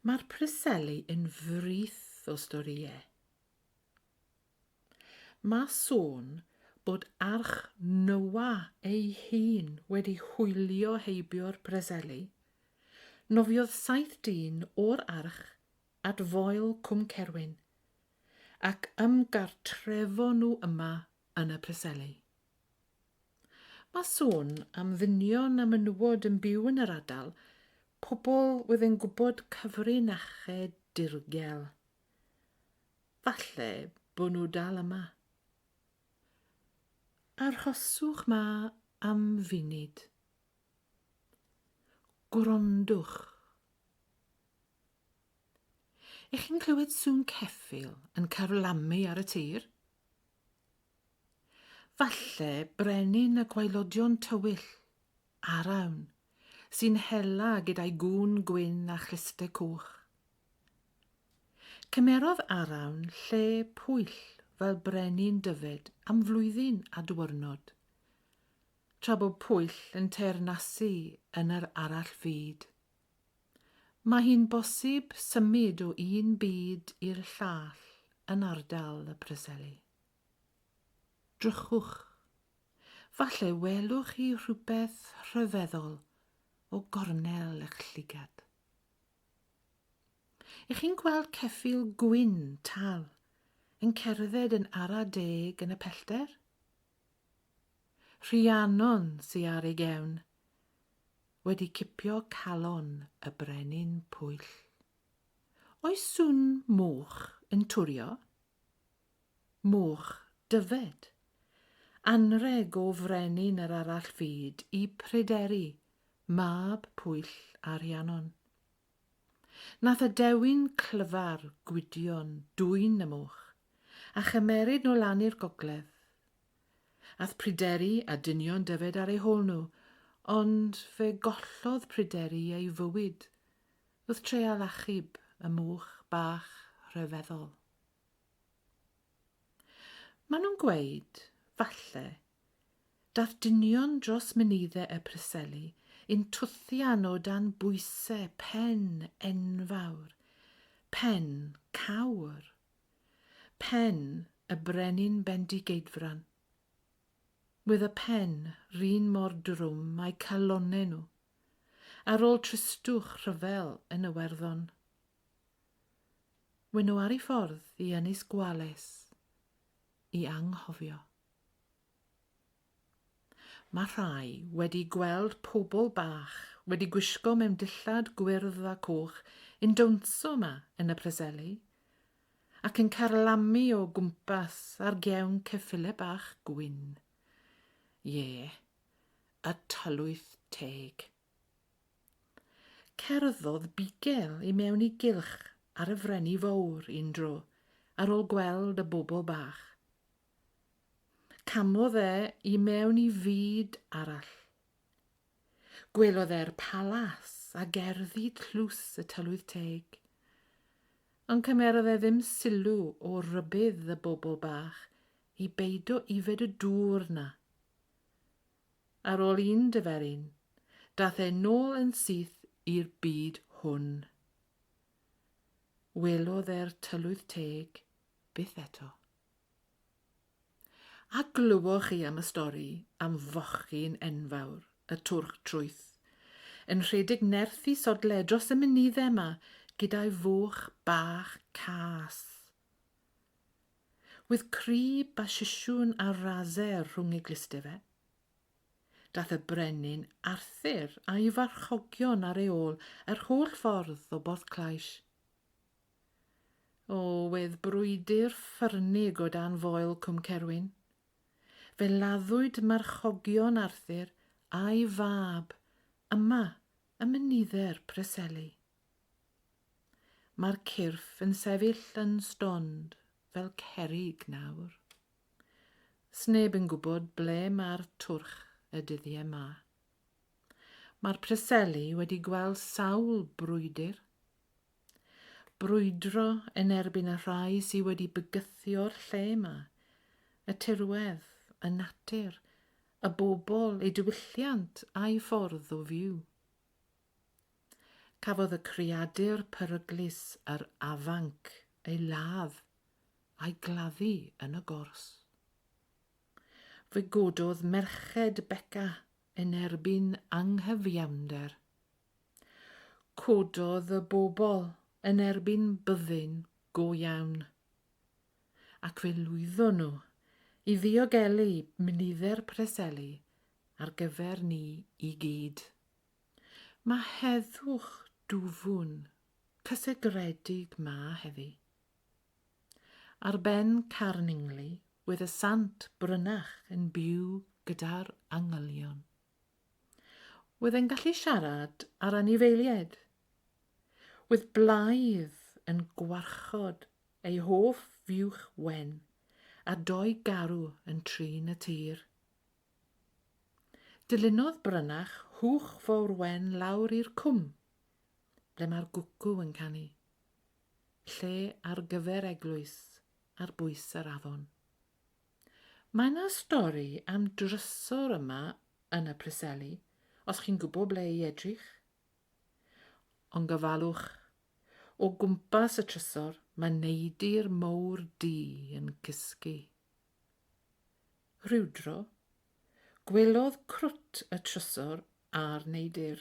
Mae'r Preseli yn frith o storïau. Mae sôn bod arch Noa ei hun wedi hwylio heibio'r Preseli. Nofiodd saith dyn o'r arch at Foel Cwm Cerwyn ac ymgartrefon nhw yma yn y Preseli. Mae sôn am ddynion a menywod yn byw yn yr adal, pobl oedd yn gwybod cyfrinachau dirgel. Falle bod nhw dal yma. Arhoswch 'ma am funud. Gwrandwch. Ych chi'n clywed sŵn ceffyl yn carlamu ar y tir? Falle brenin y gwaelodion tywyll, Arawn, sy'n hela gyda'i gŵn gwyn a chlyste coch. Cymerodd Arawn lle Pwyll fel brenin Dyfed am flwyddyn a dwyrnod, tra bod Pwyll yn teyrnasu yn yr arall fyd. Mae hi'n bosib symud o un byd i'r llall yn ardal y Preseli. Drychwch. Falle welwch chi rhywbeth rhyfeddol o gornel eich llygad. Ych chi'n gweld ceffyl gwyn tal yn cerdded yn ara deg yn y pellter? Rhiannon sy ar ei gefn, wedi cipio calon y brenin pwyll. Oes sŵn moch yn twrio? Moch Dyfed. Anrheg o frenin yr arall fyd i Pryderi, mab Pwyll a Rhiannon. Nath y dewin clyfar Gwydion dwyn y moch, a chymeryd nhw lan i'r gogledd. Ath Pryderi a dynion Dyfed ar eu hôl nhw, ond fe gollodd Pryderi ei fywyd wrth treial achub y moch bach rhyfeddol. Maen nhw'n gweud, falle, dath dynion dros Menidde y Preseli un twthian o dan bwyse pen enfawr, pen cawr, pen y Brenin Bendigeidfran. Wedd y pen 'run mor drwm a'u calonne nhw, ar ôl tristwch rhyfel yn Iwerddon. Wy nhw ar ei ffordd i Ynys Gwales i anghofio. Mae rhai wedi gweld pobl bach wedi gwisgo mewn dillad gwyrdd a coch yn dawnsio yma yn y Preseli ac yn carlamu o gwmpas ar gewn ceffyle bach gwyn. Ie, y tylwyth teg. Cerddodd Bigel i mewn i gylch ar y Freni Fowr un dro, ar ôl gweld y bobl bach. Camodd e i mewn i fyd arall. Gwelodd e'r palas a gerddi tlws y tylwyth teg. Ond cymerodd e ddim sylw o rybudd y bobl bach i beido yfed y dŵr 'na. Ar ôl un diferyn, dath e nôl yn syth i'r byd hwn. Welodd e'r tylwyth teg byth eto. A glywoch chi am y stori am fochyn enfawr, y twrch trwyth, yn rhedeg nerth i sodle dros y mynydde 'ma gyda'i foch bach cas? With crib a sisiwn ar raser rhwng ei gluste fe. Dath y brenin Arthur a'i farchogion ar ei ôl yr holl ffordd o Borthclais. O, wedd brwydr ffyrnig o dan foel Cwm Cerwyn. Fe laddwyd marchogion Arthur a'i fab yma ym Mynydde'r Preseli. Mae'r cyrff yn sefyll yn stond fel cerrig nawr. Sneb yn gwybod ble mae'r twrch y dyddiau ma. Mae'r Preseli wedi gweld sawl brwydr. Brwydro yn erbyn y rhai sydd wedi bygythio'r lle ma, y tirwedd, y natur, y bobl, eu diwylliant a'i ffordd o fyw. Cafodd y creadur peryglus yr afanc ei ladd a'i gladdu yn y gors. Fe gododd merched Beca yn erbyn anghyfiawnder. Cododd y bobl yn erbyn byddin go iawn. Ac fe lwyddon nhw i ddiogelu nifer Preseli ar gyfer ni i gyd. Mae heddwch dwfwn, cysegredig 'ma heddi. Ar ben Carningli wedd y Sant Brynach yn byw gyda'r angylion. Wedd e'n gallu siarad â'r anifeiliaid. Wedd blaidd yn gwarchod ei hoff fuwch wen a dou garw yn trin y tir. Dilynodd Brynach Hwch Fowr Wen lawr i'r cwm, ble mae'r gwcw yn canu. Lle ar gyfer eglwys ar bwys yr afon. Mae 'na stori am drysor yma yn y Preseli, os chi'n gwybod ble i edrych. Ond gofalwch, o gwmpas y trysor mae neidr mowr du yn cysgu. Rhywdro, gwelodd Crwt y trysor a'r neidr.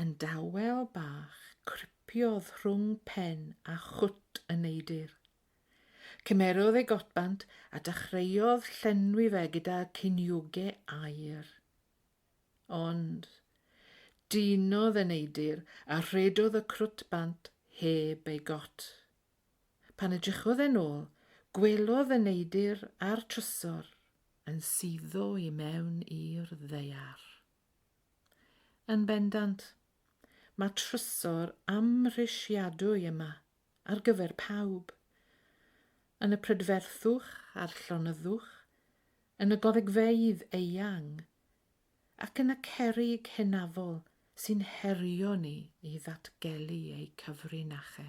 Yn dawel bach cripiodd rhwng pen a chwt y neidr. Cymerodd ei gotbant a dachreuodd llenwi fe gyda ciniogau aer. Ond dinodd y neidr a rhedodd y crwt bant heb ei got. Pan edrychodd e'n ôl, gwelodd y neidr a'r trysor yn suddo i mewn i'r ddaear. Yn bendant, mae trysor amhrisiadwy yma ar gyfer pawb, yn y prydferthwch a'r llonyddwch, yn y goddygfeydd eang, ac yn y cerrig hynafol sy'n herio ni i ddatgelu eu cyfrinache.